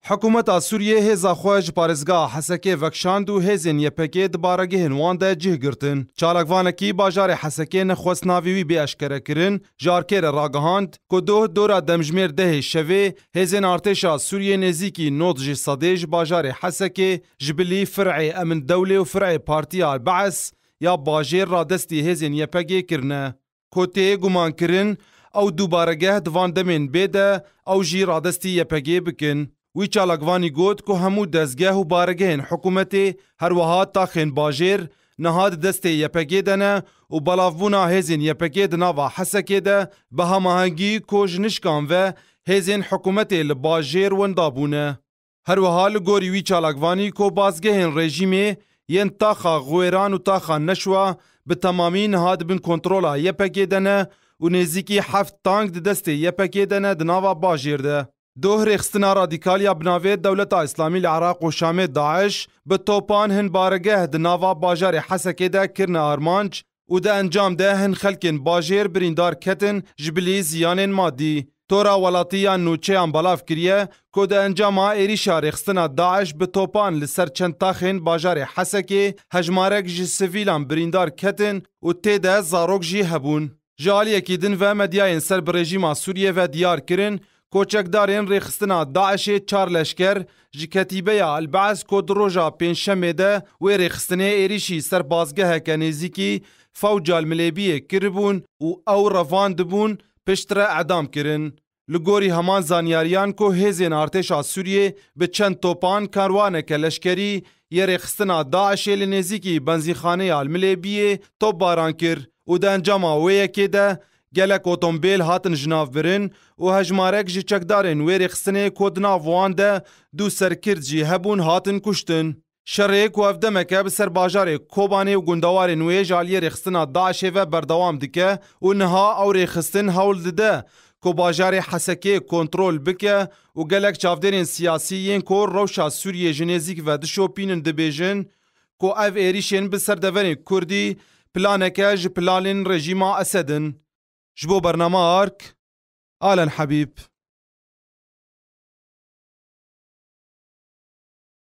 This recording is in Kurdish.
Hikûmeta Sûriyê hêza xwe ji parêzgeha Hesekê vekişand û hêzên YPG'ê di baregehên wan de cih girtin. Çalakvanekî bajarê Hesekê nexwest navê wî bê eşkerekirin, ji arkê re ragihand ku doh dora demjimêr dehê şevê hêzên artêşa Sûriyê nêzîkî nod jê sedê ji bajarê Hesekê ji bilî fir'ê Emin Dewlê û fir'ê Partiya Al-Baes ya bajêr radestî hêzên YPG'ê kirine. Ku tê gumankirin ew dûbaregeh di van demên bê de ew jî radestî YPG'ê bikin. Wî çalakvanî got ku hemû dezgeh û baregehên hikûmetê her wiha taxên bajêr niha di destê YPG'ê de ne û belavbûna hêzên YPG'ê di nava Hesekê de bi hamahengî kojnişkan ve hêzên hikûmetê li bajêr winda bûne. Her wiha li gorî wî çalakvanî ku bazgehên rejîmê yên taxa Xwêran û taxa Neşwa bi temamî niha di bin kontrola YPG'ê de ne û nêzîkî heft tank di destê YPG'ê de ne di nava bajêr de. Doh rêxistina radîkal ya bi navê Dewleta Îslamî li Iraq û Şamê DAIŞ bi topan hin baregeh di nava bajarê Hesekê de kirine armanc, û di encam de hin xelkên bajêr birîndar ketin ji bilî ziyanên madî. Tora welatî ya nûçeyan belav kiriye ku di encama êrîşa rêxistina DAIŞ bi topan li ser çend taxên bajarê Hesekê hejmarek ji sivîlan birîndar ketin û tê de zarok jî hebûn. Ji aliyekî din ve medyayên ser bi rejîma Sûriyê ve diyar kirin Koçekdarên rêxistina DAIŞ'ê çar leşker ji ketîbeya El-Be'es ku di roja Pêncşemê de wê rêxistinê êrîşî ser bazgeheke nêzîkî Fewca El-Milêbiyê kiribûn û ew revandibûn, piştre edam kirin. Li gorî heman zanyariyan ku hêzên artêşa Sûriyê bi çend topan karwaneke leşkerî yê rêxistina DAIŞ'ê li nêzîkî benzînxaneya El-Milêbiyê topbaran kir û di encama wê yekê de Gelek otombêl hatin jinavbirin û hejmarek ji çekdarên wê rêxistinê ku di nav wan de du serkird jî hebûn hatin kuştin. Şerê ku ev demeke bi ser bajarê Kobanê û gundewarên wê ji aliyê rêxistina DAIŞ'ê ve berdewam dike û niha ew rêxistin hewl dide ku bajarê Hesekê kontrol bike û gelek çavdêrên siyasî yên ku rewşa Sûriyê ji nêzîk ve dişopînin dibêjin ku ev êrîşên bi ser deverên Kurdî planeke ji planên rejîma Esed in. Ji bo bernama ark, Alen Habîb.